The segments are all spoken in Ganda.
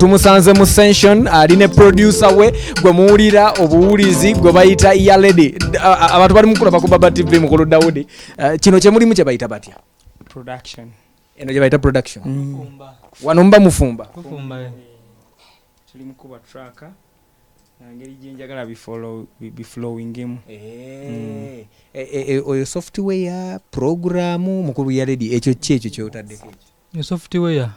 tumusanze mu sension ali ne producer we gwe muwulira obuwulizi gwe bayita ya lady abantu bali mukulaba ku baba tv mukulu dawudi uh, kino kyemulimu kyebayita batya eno gyebayita production mm. wano muba mufumba eh. ngeri gyenjagala biflowingemu eh, eh, eh, oyo software programu mukulu ya ledi ekyo ki ekyo kyotaddeko software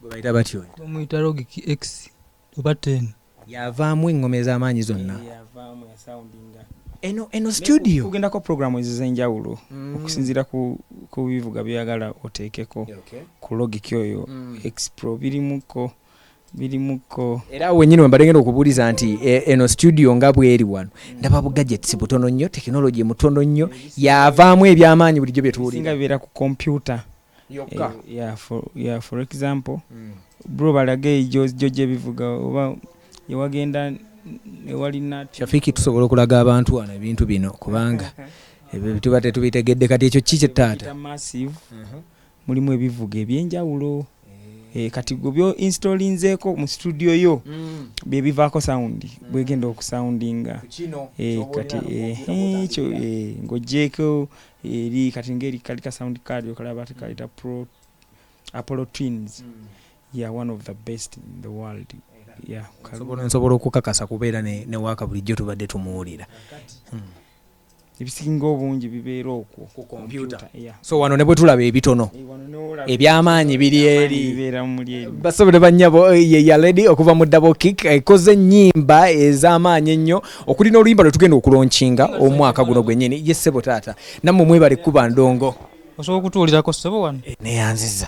gwebayita batyo omuyita logic x oba ten yavaamu engoma ez'amaanyi zonna eno eno studio kugendako programu ezo zenjawulo mm. okusinziira ku bivuga byoyagala oteekeko ku logic oyo mm. expro birimuko birimukko era awo wenyini wembadde ngenda okubuuliza nti e, eno studio nga bweri wano ndaba bugajetsi butono nnyo tekinologi mutono nnyo yavaamu ebyamaanyi bulijjo byetuwulinga bibeera ku kompyuta yokka eh, for example hmm. bro balage ejojo gyebivuga oba ewagenda ewalina shafiki tusobola okulaga abantu wano ebintu bino kubanga ebyo tuba tetubitegedde kati ekyo ki kyetaata mulimu ebivuga ebyenjawulo eh, kati gwe byo installinzeeko mu studio yo mm. bye bivaako sound mm. bwegenda okusoundinga eh, kati ekyo eh, ng'ogyeko eri kati ngeri kali ka sound card okalaba tekaleta mm. pro apollo twins ya one of the best in the world nsobola okukakasa kubeera ne waaka bulijjo tubadde tumuwulira ebisinga obungi bibeera okwo ku kompyuta so wano ne bwe tulaba ebitono eh, ebyamaanyi biri eri basobole bannyabo eh, ye yaledi okuva mu dabo kik ekoze eh, ennyimba ez'amaanyi ennyo okuli n'oluyimba lwe tugenda okulonkinga omwaka guno gwennyini ye ssebo taata nammwe mwebale kuba ndongo osobola okutuulirako ssebo wano neyanziza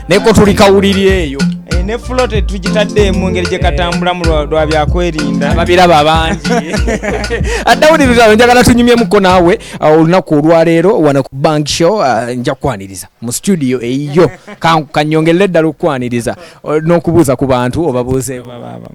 neko tuli kawuliri eyo eh, ne fulo tetugitadde mu ngeri gyekatambulamu lwa byakwerinda ababiraba abangi addawuliriza njagala tunyumyemuko naawe uh, olunaku olwaleero wano ku bank show uh, nja kukwaniriza mu studio eyiyo kanyongerere eddala okukwaniriza uh, n'okubuuza ku bantu obabuuzeeko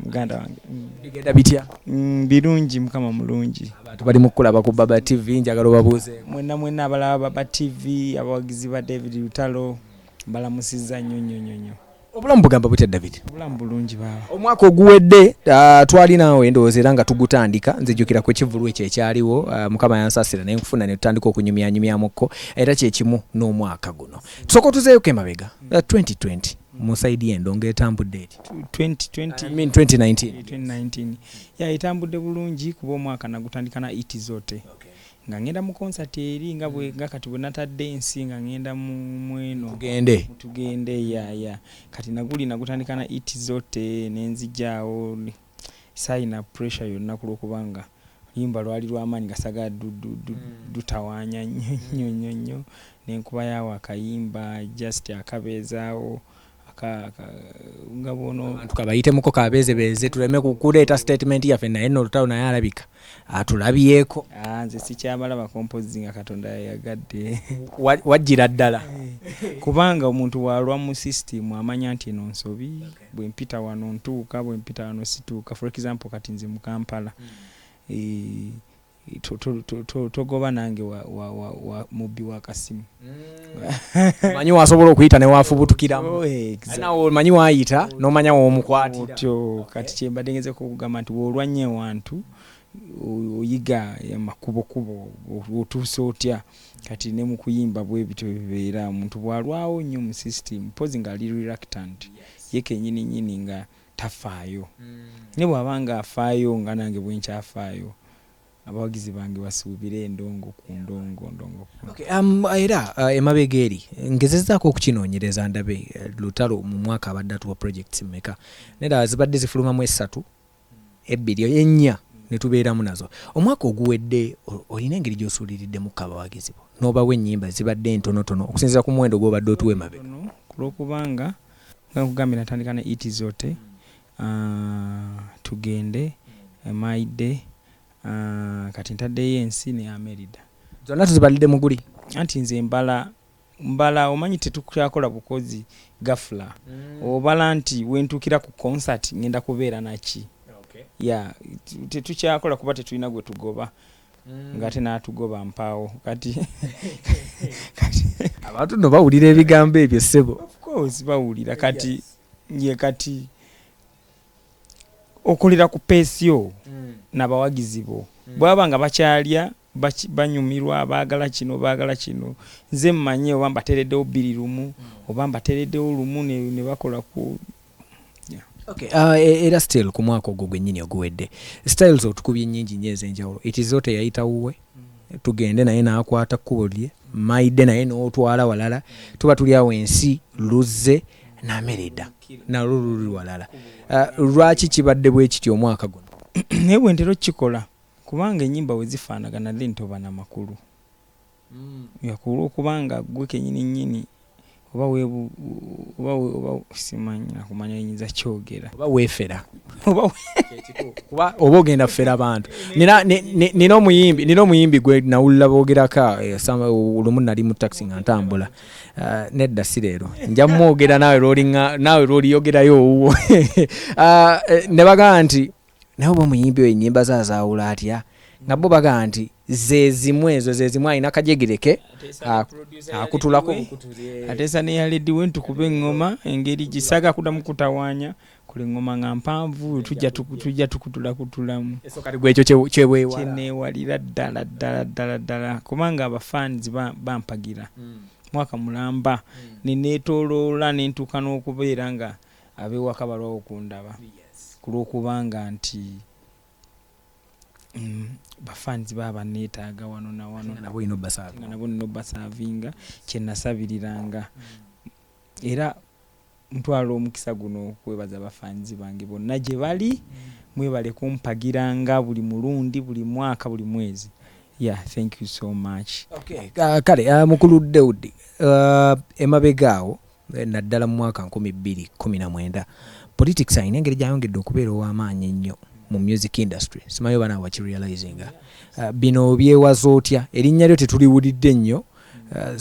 muganda wange mm. bigenda bitya mm, birungi mukama mulungi abantu bali mukulaba ku baba tv njagala obabuuze mwena mwena abalaba baba tv abawagizi ba david lutalo Mbalamusizza nnyo nnyo nnyo nnyo. Obulamu bugamba butya David? Obulamu bulungi baaba. Omwaka oguwedde ah, twali naawe ndowooza era nga tugutandika nze jjukira ku kivulu ekyo ekyaliwo ah, mukama yansasira ne nkufuna ne tutandika okunyumyanyumyamukko era kye kimu n'omwaka guno tusooka otuzeeyoko emabega ah, 2020 mu sayidi y'endo ng'etambudde eti 2020 I mean 2019 2019 ya etambudde bulungi kuba omwaka nagutandika na iti zote nga ngenda mu concert eri nga bwe nga kati bwe natadde ensi nga ngenda mu mweno tugende tugende ya ya kati naguli nagutandika na it zote nenzijaawo sayina pressure yonna kulwokuba nga yimba lwali lwamaanyi nga sagala dutawaanya nnyo nnyo nnyo nnyo nenkuba yaawo akayimba just akabeezaawo nga bwono tukabayitemuko kabeezebeeze tuleme kukuleeta statement yaffe naye no olutalo naye alabika atulabyeko ah, nze sikyamala bakompozi nga katonda yayagadde wajjira ddala kubanga omuntu walwa mu system amanya nti eno nsobi bwempita wano ntuuka bwempita wano situuka for example kati nze mukampala hmm. eh, To, to, to, to, togoba nange wa, wa, wa, wa mubbi wa kasimu mm. manyi wasobola okuyita newafubutukiramu oh, exactly. nawe omanyi wayita nomanya womukwatiraotyo kati kyembadde ngezeko okugamba nti wolwanya ewantu oyiga amakubokubo otuusa otya kati ne mu kuyimba bwebityo bibeera omuntu bwalwawo nnyo mu system mpozi ngaali reluctant ye kenyini nyini nga tafaayo ne bw'aba ng'afaayo nga nange bwe nkyafaayo abawagizi bange basuubire endongo ku ndongo ndongo okay, um, era uh, emabega eri ngezezaako okukinoonyereza ndabe eh, lutalo mu mwaka abadde atuwa projects meka nera zibadde zifulumamu esatu ebbiri ennya netubeeramu nazo omwaka oguwedde olina engeri gyosuuliriddemu kabawagizi bo n'obawa ennyimba zibadde entonotono okusinzira ku muwendo gwobadde otuwa emabega kulwokubanga Nga nkugambye natandika ne Eat Zote, Tugende, My Day, kati ntaddeyo Ensi ne Amelida. Zonna tuzibalidde mu guli? Anti nze mbala mbala omanyi tetukyakola bukozi gafula mm. obala nti wentuukira ku concert ngenda kubeera naki ya tetukyakola kuba tetulina gwe tugoba ngate natugoba mpaawo kati abantu no bawulira ebigambo ebyo sebo bawulira kati ye kati okolera ku peesi yo mm. nabawagizi bo mm. bwaba nga bakyalya banyumirwa baagala kino baagala kino nze mmanyi oba mbateereddewo bbiri lumu mm. oba mbateereddewo lumu ne bakola ku Okay, uh, e, era still ku mwaka ogwo gwennyini oguwedde styles otukubye nnyingi nnyo ez'enjawulo ekizo teyayita wuwe mm. tugende naye n'akwata kkubo lye maide naye n'otwala walala tuba tuli awo ensi luzze namereda nalwo luli walala uh, lwaki kibadde bwe kiti omwaka guno naye bwentera okukikola kubanga enyimba wezifaanagana then toba namakulu nga ku lw'okuba nga ggwe kennyini nnyini oba weebu, oba, oba simanyi na kumanya bye nnyinza kyogera. Oba weefera. Oba kuba oba ogenda fera bantu. Nina, nina omuyimbi, nina omuyimbi gwe nawulira boogerako eh, lumu nali mu taxi nga ntambula. Eh, nedda si leero. Nja mwogera naawe lw'olinga, naawe lw'oliyogerayo owuwo. Eh, ne bagamba nti. Naye oba omuyimbi oyo enyimba ze azawula atya nga bo bagamba nti zezimu ezo zezimu alina kajegere ke akutulako bukutuli eh. atesa neya ledi we ntukuba engoma engeri gisaga kudamu kutawanya kuli ngoma nga mpanvu tujja tukutula kutulamu kyenewalira ddala ddala ddala ddala kubanga abafans bampagira hmm. mwaka mulamba hmm. nenetoloola nentuuka n'okubeera nga ab'ewaka balwawo okundaba ku lw'okubanga nti mm, bafanzi baba banneetaaga wano na wano nga nabo nina obbasaavinga kye nasabiriranga era ntwala omukisa guno okwebaza bafanzi bange bonna gye bali mwebale kumpagiranga buli mulundi buli mwaka buli mwezi yeah thank you so much okay. uh, kale uh, mukulu deudi uh, emabega awo naddala mu mwaka nkumi bbiri kkumi na mwenda. Politics alina engeri gy'ayongedde okubeera ow'amaanyi ennyo mu music industry. Simanyi oba naawe wakirealizinga. Uh, bino obyewaza otya? Erinnya lyo tetuliwulidde nnyo, uh,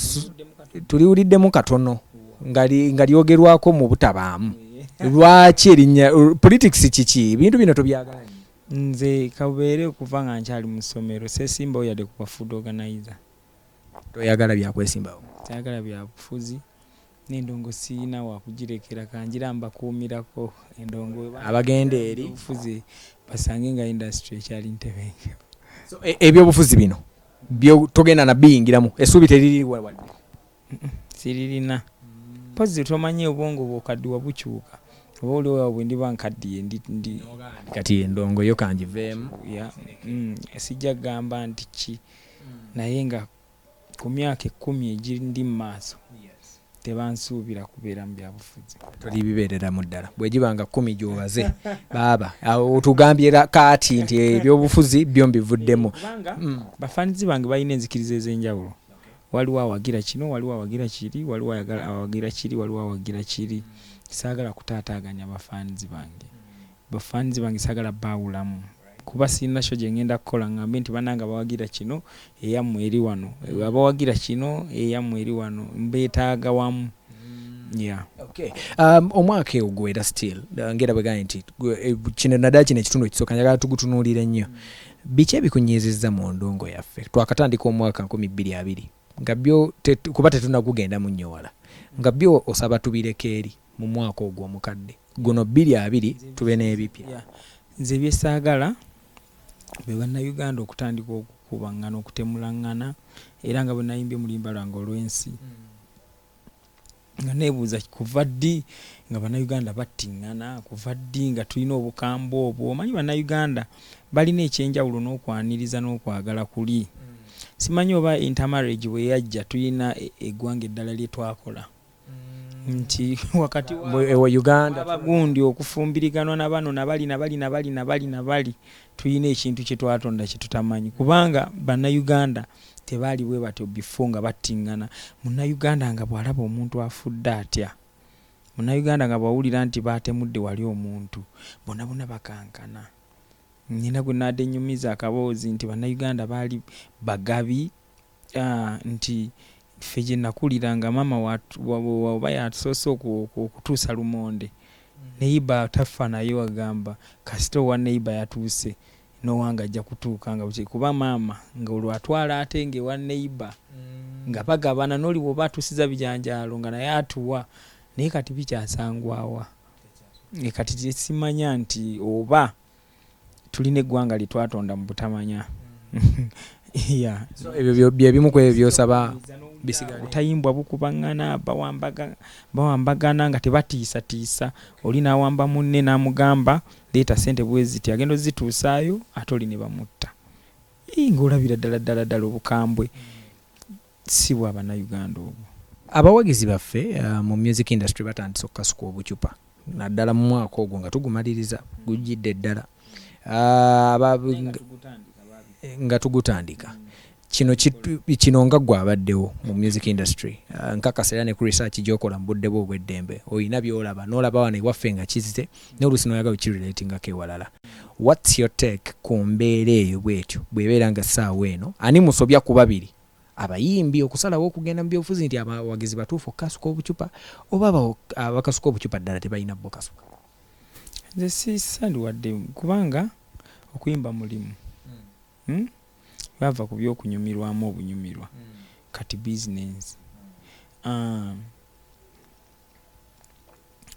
tuliwuliddemu katono nga lyogerwako mu butabaamu. Lwaki erinnya politics kiki? Ebintu bino tobyagala nnyo? Nze kabeere okuva nga nkyali mu ssomero seesimbawo yadde ku ba food organizer. Toyagala bya kwesimbawo. Tayagala bya bufuzi. N'endongo sirina wa kugirekera ka ngire ambakuumirako. Endongo bwe baagala Abagenda eri. eby'obufuzi basange nga indasitule ekyali ntebenkevu. So, e, eby'obufuzi bino byo togenda na biyingiramu, essuubi teririiwo wadde? siririna mpozzi tomanyi obwongo bwokaddiwa bukyuka oba oliowa bwe ndiba nkaddiye ndi kati endongo yo kangiveemu mm, sijja kugamba nti ki naye nga ku myaka ekkumi egindi mu maaso tebansuubira kubeera mu byabufuzi tuli bibeereramu ddala bwegiba nga kkumi gyobaze baaba otugambye kaati nti ebyobufuzi byo mbivuddemu mm. bafanizi bange balina enzikiriza ez'enjawulo Waliwo awagira kino, waliwo awagira kiri, waliwo ayagala awagira kiri, waliwo awagira kiri. Saagala kutaataaganya ba fans bange. Ba fans bange saagala baawulamu kuba sirina show gye ngenda kukola ngambe nti bannange abawagira kino eyammwe eri wano, abawagira kino eyammwe eri wano. Mbeetaaga wamu. Yeah. Okay. Um, omwaka ewo gwera still uh, ngera bwe gambye nti eh, kino naddala kino ekitundu ekisooka njagala tugutunuulire nnyo Biki ebikunyiizizza mu ndongo yaffe? Twakatandika omwaka nkumi bbiri abiri nga byo kuba tetunagugendamu nnyo wala, nga byo osaba tubireke eri mu mwaka ogwo omukadde guno bbiri abiri tube n'ebipya. Nze bye saagala be Bannayuganda okutandika okukubaŋŋana, okutemulaŋŋana era nga bwe nayimbye mu luyimba lwange olw'ensi, nga nebuuza kuva ddi nga banauganda battingana kuva ddi nga tulina obukambwe obwo omanyi banauganda balina ekyenjawulo n'okwaniriza n'okwagala kuli mm. simanyi oba intermarriage bwe yajja tulina e, eggwanga eddala lye twakola mm. nti wakati wabagundi okufumbiriganwa na bano nabali nabali nabali nabali nabali Tuyina ekintu kyetwatonda kyetutamanyi kubanga bana Uganda tebaali bwebatyo before nga battingana muna Uganda nga bwalaba omuntu afudde atya muna Uganda nga bwawulira nti batemudde wali omuntu bona bona bakankana nina gwenadenyumiza akaboozi nti bana Uganda baali bagabi nti ffe gyenakulira nga maama waba yatusoose okutuusa lumonde neiba taffa nayo agamba kasita owa neiba yatuuse nowange ajja kutuuka nga bukyali kuba maama nga olwo atwala ate nga ewa neiba mm. nga bagabana noli woba atuusiza bijanjaalo nga naye atuwa naye kati bikyasangwawa kati kyesimanya nti oba tulina eggwanga lye twatonda mu butamanya. Yeah. So ebyo byo- bye bimu ku ebyo by'osaba bisigale. Obutayimbwa bukubaŋŋana, bawambaga- bawambagana nga tebatiisatiisa. Oli n'awamba munne n'amugamba, leeta ssente bwe ziti, agenda ozituusaayo ate oli ne bamutta. Ii, Ng'olabira ddala ddala ddala obukambwe. si bwa Bannayuganda obwo. Abawagizi baffe mu music industry batandise okukasuka obucupa naddala mu mwaka ogwo nga tugumaliriza gujjidde ddala nga tugutandika kino kino nga gwe abaddewo mu music industry ah, nkakasa era ne ku research gyokola mu budde bwe obw'eddembe olina byolaba n'olaba wano ewaffe nga kizze n'oluusi n'oyagala okirelatingako ewalala what's your take ku mbeera eyo bwetyo bw'ebeera nga ssaawa eno ani musobya ku babiri abayimbi okusalawo okugenda mu byobufuzi nti abawagizi batuufu okukasuka obucupa oba abakasuka obucupa ddala tebalina bbo kasuka? Nze sisali wadde kubanga okuyimba mulimu hmm. Hmm? bava ku byokunyumirwamu obunyumirwa hmm. kati bizinensi ah.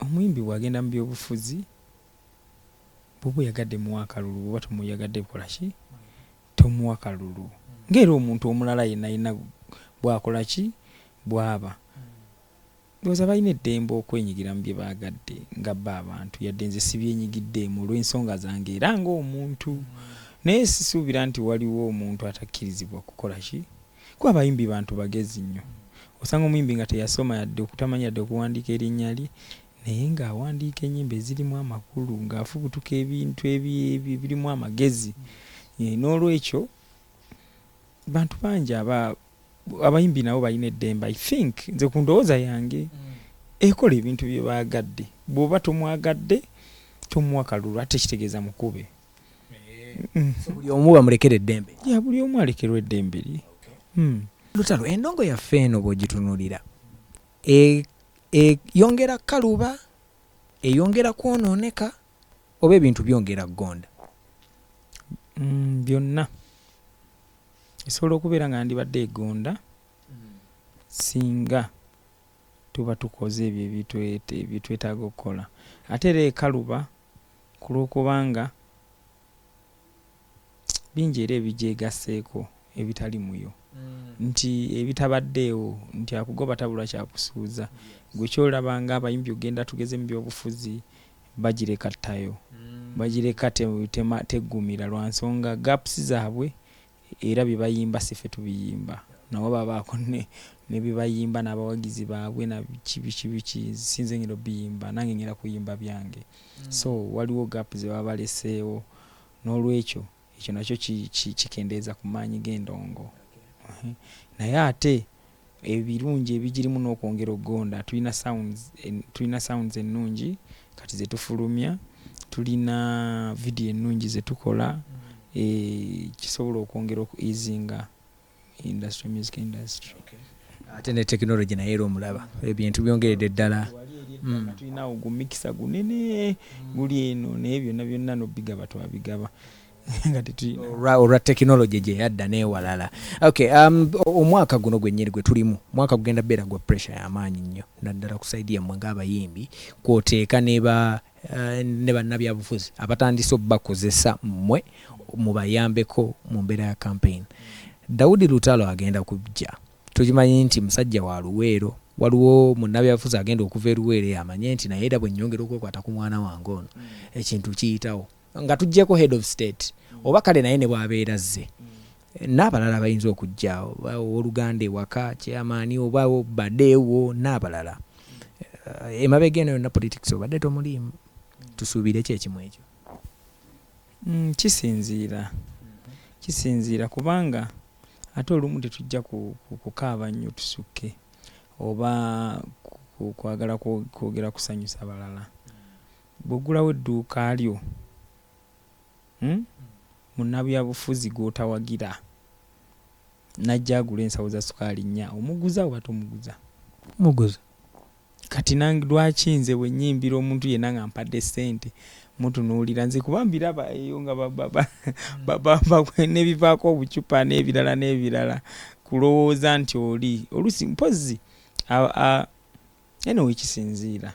omuyimbi bwagenda mu byobufuzi bwoba oyagadde muwa akalulu bwoba tomuyagadde bukolaki Tomuwa kalulu nga era omuntu omulala yenna yenna bw'akola ki bw'aba. Ndowooza balina eddembe okwenyigira mu bye baagadde nga bo abantu yadde nze sibyenyigiddeemu olw'ensonga zange era ng'omuntu. Naye sisuubira nti waliwo omuntu atakkirizibwa kukola ki kuba abayimbi bantu bagezi nnyo. Osanga omuyimbi nga teyasoma yadde okutamanya yadde okuwandiika erinnya lye. naye ng'awandiika ennyimba ezirimu amakulu, ng'afubutuka ebintu ebirimu amagezi. Eh, n'olwekyo bantu bangi aba abayimbi nabo balina eddembe i think nze ku ndowooza yange mm. ekola ebintu bye baagadde bw'oba tomwagadde tomuwa kalulu ate kitegeeza mukube mm. buli omu bamulekera eddembe ya buli omu alekerwa eddembe lye mm. lutalo endongo yaffe eno bw'ogitunulira e, Eyongera kukaluba, eyongera kwonooneka, oba ebintu byongera kugonda? Byonna. Esobola okubeera nga yandibadde egonda singa tuba tukoze ebyo bye twetaaga okukola. Ate era ekaluba ku lw'okubanga bingi era ebigyegasseeko ebitali muyo nti ebitabaddeewo nti akugoba tabula kyakusuuza gwe kyolaba nga abayimbi ogenda tugeze mu byobufuzi bagireka ttayo bagireka teggumira lwa nsonga gaps zaabwe era bye bayimba si ffe tubiyimba nabo babaako ne bye bayimba n'abawagizi baabwe na biki biki biki sinze ng'enda obiyimba nange ng'enda kuyimba byange so waliwo gapu ze baba baleseewo N'olwekyo, ekyo nakyo ki, ki, kikendeeza ku maanyi g'endongo. Naye ate ebirungi ebigirimu n'okwongera okugonda, tulina sounds, tulina sounds ennungi kati ze tufulumya, tulina vidiyo ennungi ze tukola, e, kisobola okwongera oku easinga industry music industry ate ne technology naye era omulaba ebintu byongeredde ddala mm. tulina ogwo mikisa gunene guli eno naye byonna byonna nobigaba twabigaba nga tetulina olwa tekinologi gye yadda n'ewalala okay um, omwaka guno gwennyini gwe tulimu mwaka gugenda beera gwa pressure y'amaanyi nnyo naddala ku saidi yammwe ng'abayimbi kwoteeka neba Eh, ne bannabyabufuzi abatandise obubakozesa mmwe mubayambeko mu mbeera ya kampeyini dawudi lutalo agenda kujja tukimanyi nti musajja wa luweero waliwo munnabyabufuzi agenda okuva eruweero eyo amanye nti naye era bwe nnyongera okwekwata ku mwana wange ono ekintu kiyitawo nga tuggyeko head of state oba kale naye ne bwabeera zze N'abalala abayinza okujja, oba ow'oluganda ewaka, chairman, oba bade wo, n'abalala. Emabega eno yonna politics obadde tomuliimu. Tusuubire ki ekimu ekyo? Umm kisinziira, kisinziira kubanga ate olumu tetujja ku kukaaba nnyo tusukke oba ku kwagala kwogera kusanyusa balala. Bw'oggulawo edduuka lyo. Uhmm munabyabufuzi gwotawagira najja agule ensawo za sukaali nnya omuguza oba tomuguza? Muguza. Kati nange lwaki nze bwenyimbira omuntu yena nga ampadde sente mutunuulira nze kuba mbiraba eyo nga babamba nebivaako obucupa nebirala nebirala kulowooza nti oli oluusi mpozzi anyway kisinziira.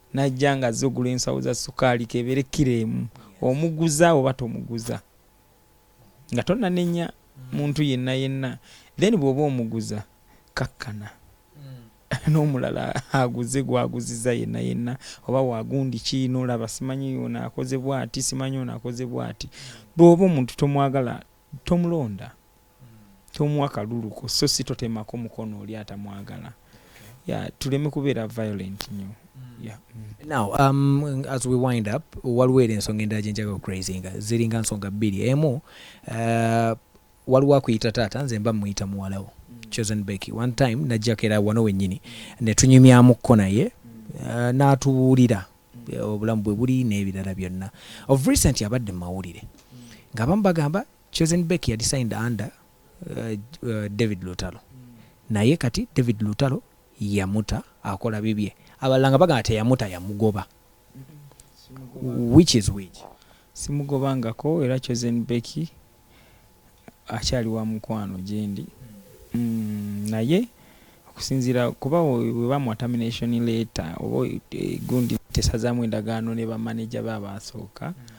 Najja nga azze ogula ensawo za sukaali kebere kkiro emu. Omuguza oba tomuguza. Nga tonnanenya muntu yenna yenna. Then bw'oba omuguza kakkana n'omulala aguze gw'aguzizza yenna yenna oba wa gundi ki n'olaba simanyi ono akoze bw'ati simanyi ono akoze bw'ati. Bw'oba omuntu tomwagala tomulonda. tomuwa kaluluko so si totemako mukono oli atamwagala ya tuleme kubeera violent nyo mm. mm. now um, as we wind up waliwo era ensonga endala gyenjaga okucrazinga ziringa nsonga bbiri emu uh, waliwo akuyita taata nze mba muyita muwalawo mm. chosen becky one time najjako era wano wennyini netunyumyamuko naye uh, n'atubuulira obulamu bwe buli n'ebirala byonna of recent abadde mu mawulire ng'abamu bagamba Chosen Becky yali signed under uh, David Lutalo naye kati David Lutalo yamuta akola bibye abalala nga bagamba teyamuta yamugoba which is which simugobangako era Chosen Becky akyali wa mukwano gyendi mm, naye okusinziira kuba webamuwa termination letter oba eh, gundi tesazamu endagaano ne bamaneja be abaasooka mm.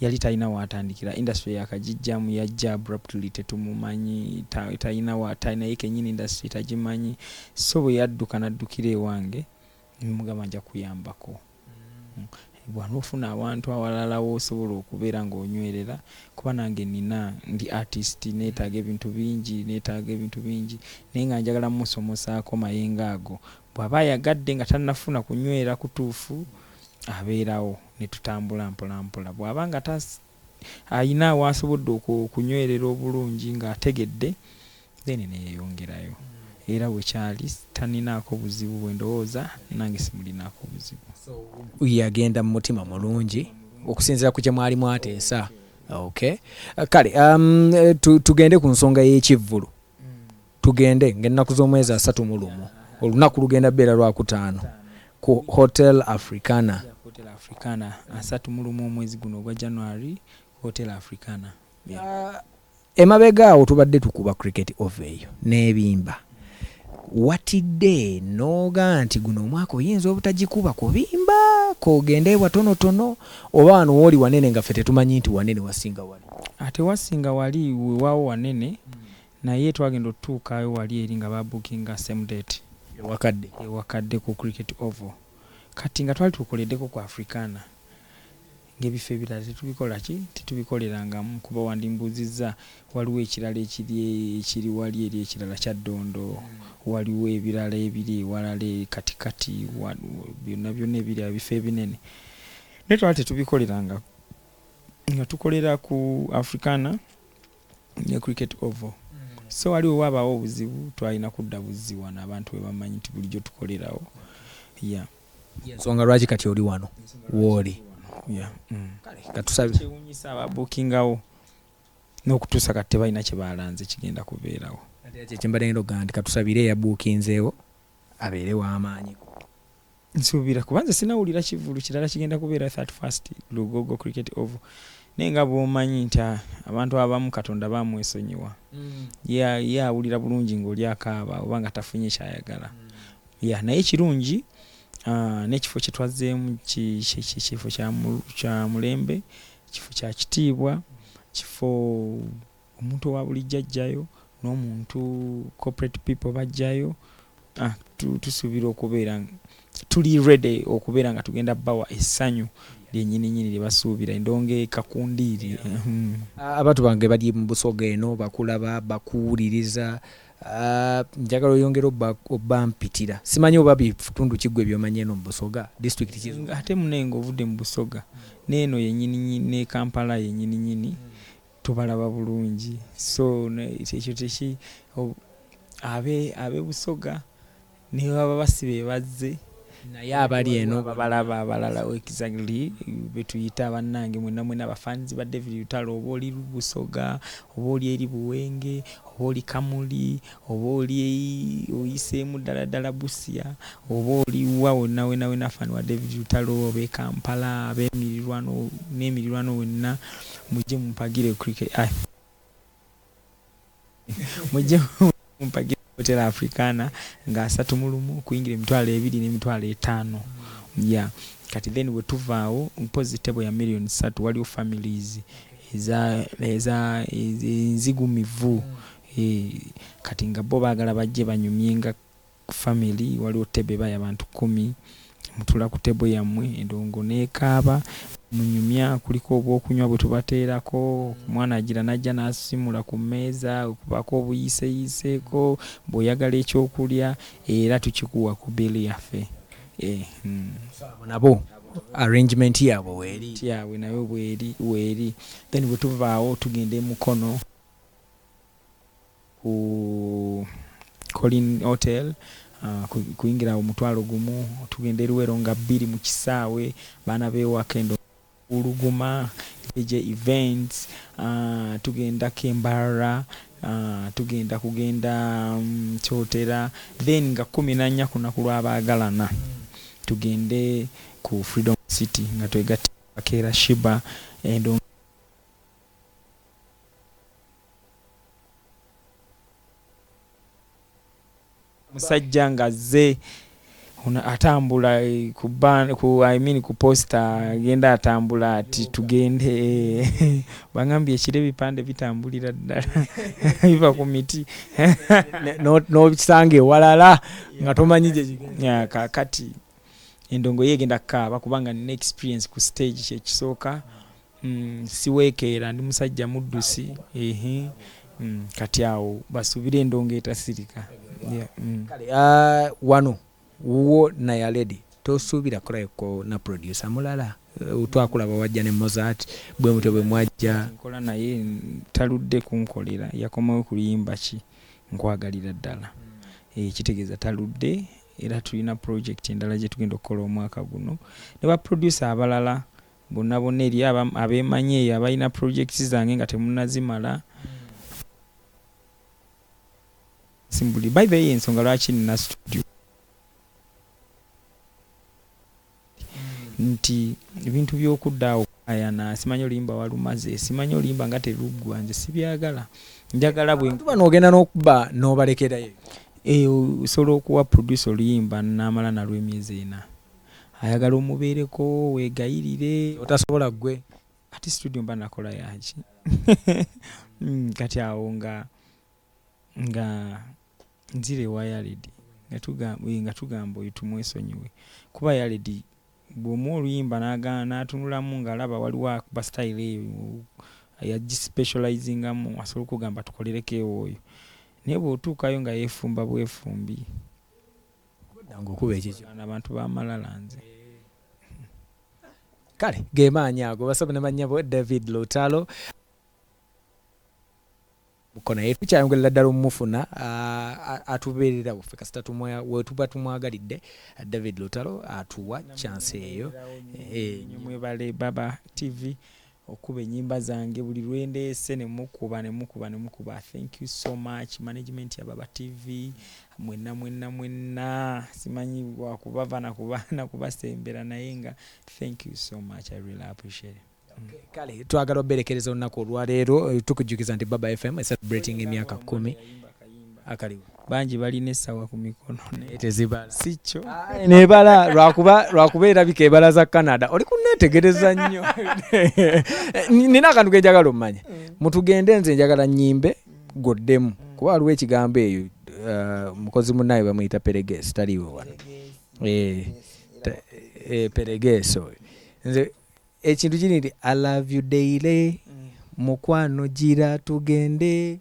Yali talina w'atandikira. Industry yaakagiggyamu. Yajja abruptly, tetumumanyi, ta, talina wa, ta, naye kennyini industry tagimanyi. So bwe yadduka n'addukira ewange, ne mugamba nja kuyambako. Mm. Bw'ana ofuna awantu awalala w'osobola okubeera ng'onywerera, kuba nange nnina, ndi artist, neetaaga ebintu bingi, neetaaga ebintu bingi, naye nga njagala mmusomosaako mayengo ago, Bw'aba ayagadde nga tannafuna kunywera kutuufu abeerawo ne tutambula mpolampola. Bw'aba nga alina w'asobodde okunywerera obulungi ng'ategedde then ne yeeyongerayo era we kyali tanninaako buzibu bwe ndowooza nange simulinaako buzibu. Yagenda mu mutima mulungi okusinziira ku kye mwali mwateesa. Okay. Kale tugende ku nsonga y'ekivvulu. Tugende ng'ennaku z'omwezi asatu mu lumu. Olunaku lugenda kubeera Lwakutaano ku Hotel Africana. Hotel Africana, asatu mu lumu omwezi guno ogwa January, Hotel Africana. Emabega awo tubadde tukuba Cricket Over eyo n'ebimba. Watidde n'oga nti guno omwaka oyinza obutagikuba ku bimba, k'ogende e watonotono, oba wano w'oli wanene nga ffe tetumanyi nti wanene wasinga wali. Tewasinga wali, wewaawo wanene Naye twagenda otutuukayo wali eri nga ba bookinga same date. E Wakadde. E Wakadde ku Cricket Oval. Kati nga twali twekoleddeko ku Africana nga ebifo ebirala tetubikola ki? Tetubikolerangamu kuba wandimbuuzizza waliwo ekirala ekiri ekiri wali eri ekirala Kyaddondo, waliwo ebirala ebiri ewalala e katikati wa byonna byonna ebiri awo ebifo ebinene. Naye twali tetubikolerangako nga tukolera ku Africana. ne cricket oval so wali wewabaawo obuzibu twalina kudda buzzi wano abantu webamanyi nti bulijjo tukolerawo ya ensonga lwaki kati oli wano wooli mm. katusabekyewunyisa ababukingawo n'okutuusa kati tebalina kyebalanze kigenda kubeerawo kyekimbadengedo ga nti katusabire eyabuukinzeewo abeere w'amaanyi nsuubira kuba nze sinawulira kivulu kirala kigenda kubeera that first lugogo cricket oval naye nga bwomanyi nti ah, abantu abamu katonda bamwesonyiwa mm. ye awulira bulungi ngaoli akaaba oba nga tafunye kyayagala mm. ya naye kirungi ah, nekifo kyetwazzeemu kifo kya mulembe kifo kya kitiibwa kifo Omuntu owa bulijjo ajjayo nomuntu corporate people bajjayo ah, tu, tusubira okubeera tuli ready okubeera nga tugenda bawa essanyu lyenyininyini lyebasuubira endonga ekakundiiri hmm. ah, abantu bange bali mu busoga eno bakulaba bakuwuliriza ah, njagala oyongera obampitira simanyi oba bitundu kiggwe byomanyi eno mu busoga district ate munenga ovudde mu busoga neeno yenyininyini nekampala yenyininyini Tubalaba bulungi so ekyo teki abe abe busoga nebaba basi bebazze naye abali eno babalaba abalala exactly betuyita bannange mwena mwena bafanzi ba david lutalo oba oli busoga oba oli eri buwenge oba oli kamuli Oba oli oyiseemu ddala ddala Busia, oba oli wa wonna wena wena fan wa David Lutalo oba e Kampala ab'emirirwano n'emirirwano wonna mujje mumpagire cricket ai mujje mumpagire Hotel Africana nga asatu mu lumu kuyingira emitwalo ebiri n'emitwalo etaano ya kati then bwe tuvaawo mpozzi tebo ya million ssatu waliwo families eza eza enzigumivu Hee kati nga bo bagala bajje banyumye nga family waliwo table ebaya abantu kumi mutula ku table yamwe endongo nekaaba munyumya kulika obwokunywa bwetubateerako omwana ajira najja nasimula ku meeza okubaako obuyiseyiseeko bwoyagala ekyokulya era tukikuwa ku bill yaffe eh, hmm. nabo arrangement yabwe weeri yabwe nayo bweri weeri then bwetuvaawo tugenda emukono ku colin hotel Ah, ku- kuyingira omutwalo gumu tugenda eruwero nga bbiri mu kisaawe baana bewaka endo uluguma jj events ah, tugenda kembarra ah, tugenda kugenda mm, kyotera then nga kumi nanya ku lunaku lw'abaagalana tugende ku freedom city nga twegatta bakeera shiba endo musajja nga azze atambula eh, ku ban ku i mean ku posta agenda atambula ati tugende eh, bangambye ekiro ebipande bitambulira ddala biva ku miti nokisanga ewalala nga tomanyi kakati endongo ye egenda kukaaba kubanga nina experience ku stage kyekisooka Mm, siwekeera ndi musajja muddusi ehe mm, kati awo basuubira endongo etasirika yeah, mm. kale uh, wano wuwo naya lady tosuubira kulaiko na producer mulala uh, twakulaba wajja ne mozart bwe mutyo bwe mwajja nkola naye taludde kunkolera yakomawo kuluyimba ki nkwagalira ddala mm. e, kitegeeza taludde era tulina project endala gye tugenda okukola omwaka guno ne baproducer abalala Bonnabonna eri abeemanyi eyo abalina projects zange nga temunazimala simbuli by the way ensonga lwaki nina studio nti ebintu byokudda awo ayana simanyi olimba walumaze simanyi olimba nga teruggwa nze sibyagala njagala bwetuba ogenda nokuba nobalekerayo eh, osobola okuwa producer oluyimba namala nalwemyezi ena Ayagala omubeereko wegayirire. Otasobola gwe ati studio mba nakola yaki kati awo nga nga nzira ewa yaledi nga tugamba oyo tumwesonyiwe kuba yaledi bwomuwa oluyimba nagaana natunulamu nga alaba waliwo akuba style eyo yaji specializingamu asobola okugamba tukolereko ewo oyo naye bwotuukayo nga yefumba bwefumbi. abantu bamalala nze kale gemaanyi ago basobe ne bannyabo david lutalo buko naye tukyayongerera ddala omumufuna atubeerera waffe kasita wetuba tumwagalidde david lutalo atuwa kyansi eyo eh, mwebale baba tv Okuba enyimba zange buli lwendeese ne mukuba ne mukuba ne mukuba thank you so much management ya baba TV mwenna mwenna mwenna simanyi wakubava nakuba nakubasembera naye nga thank you so much I really appreciate it. Kale twagala oberekereza olunaku olwaleero eh, tukujjukiza nti Baba FM is celebrating emyaka kumi akaliwo bangi balina essawa ku mikono naye tezibala si kyo nebala lwakuba lwakuba erabika ebala za canada oli kuneetegereza nnyo nina akantu kenjagala omumanya mm. mutugende nze njagala nyimbe goddemu mm. kuba waliwo ekigambo eyo uh, mukozi munaye bamuyita peregeso taliiwe wano eh, eh, peregeso oyo nze ekintu kiri nti i love you daily mm. mukwano gira tugende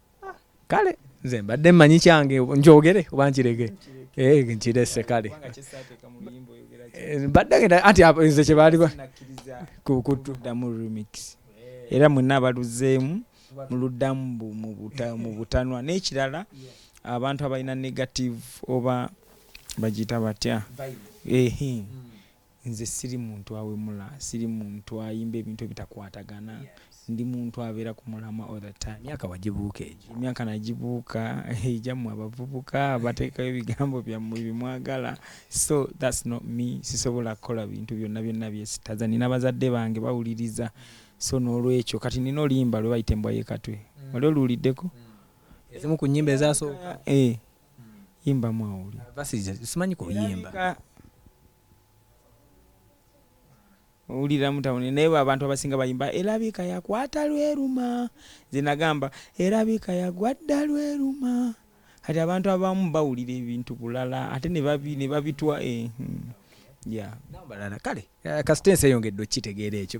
ah, kale nze mbadde mmanyi kyange njogere oba nkirege eh, nkirese kale eh, mbadde ngenda anti nze kye baali kuddamu remix era mwenna abaluzeemu muluddamu mu butanwa n'ekirala abantu abalina negative oba bagiyita batya hmm. Nze siri muntu awemula, siri muntu ayimba ebintu ebitakwatagana, ndi muntu abeera ku mulamwa all the time. Emyaka wagibuuka egyo? Emyaka nagibuuka egyammwe abavubuka abateekayo ebigambo byammwe bye mwagala so that's not me, sisobola kukola bintu byonna byonna byesitaza. Nnina bazadde bange bawuliriza so n'olwekyo kati nnina oluyimba lwe bayita embwa y'e Katwe, wali oluwuliddeko? Ezimu ku nnyimba ezasooka. Eh, yimbamu awulire. Simanyi kuyimba. owulira mutawuni naye abantu abasinga bayimba erabika yakwata lweruma zenagamba erabika yagwa dda lweruma kati abantu abamu bawulira ebintu bulala ate nebabitwa eh, hmm, balala kale eh, kasita ensi eyongedde okukitegeera ekyo